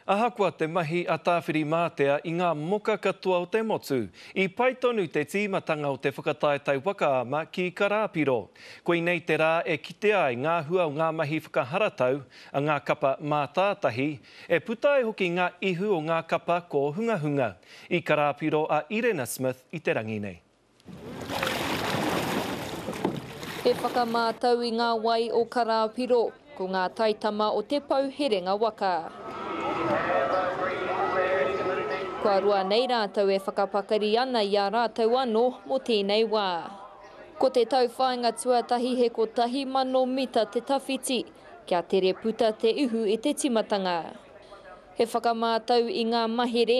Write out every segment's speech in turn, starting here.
Ahakoa te mahi a Tāwhirimātea i ngā moka katoa o te motu, i pai tonu te tīmatanga o te whakataetae waka ama ki Karāpiro. Koinei te rā e kitea ai ngā hua o ngā mahi whakaharatau a ngā kapa mātātahi, e puta ai hoki ngā ihu o ngā kapa kōhungahunga. I Karāpiro a Irena Smith i te rangi nei. He whakamātau i ngā wai o Karāpiro, ko ngā taitama o te pou herenga waka. Kua roa nei rātou e whakapakari ana i a rātou anō mō tēnei wā. Ko te tauwhāinga tuatahi he kotahi mano mita te tawhiti, kia tere puta te ihu i te timatanga. He whakamātau i ngā mahere,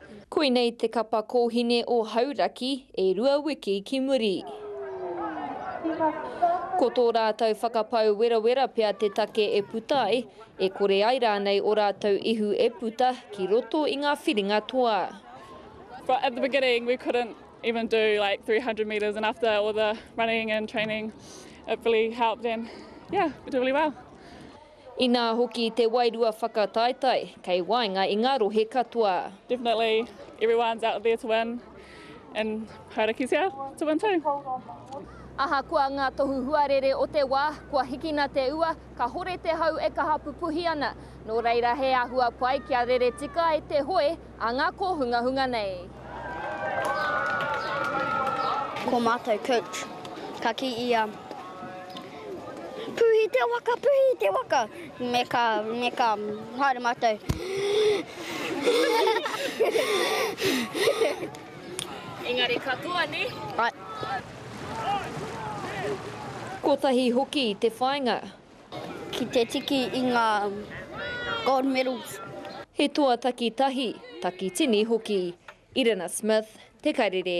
Koinei te kapa kōhine o Hauraki e rua wiki ki muri. Ko tō rātou whakapau werawera pea te take e puta ai, e kore ai rānei ō rātou ihu e puta ki roto i ngā whiringa toa. But at the beginning we couldn't even do like 300 metres and after all the running and training it really helped and yeah we did really well. Inā hoki te wairua whakataetae kei waenga i ngā rohe katoa. Definitely everyone's out there to win and Harakitea to win too. Ahakoa ngā tohu huarere o te wā, kua hikina te ua, kahore te hau e kaha pupuhi ana. Nō reira he āhua pai kia rere tika ai te hoe, A ngā kōhungahunga nei. Ko mātou coach, ka kī ia, Puhi te waka, puhi te waka! Me ka, me ka, haere mātou. Engari katoa, nē? Ae. Kotahi hoki te whāinga, Ki te tiki i ngā gold medals. He toa takitahi, takitini hoki. Irina Smith, Te Karere.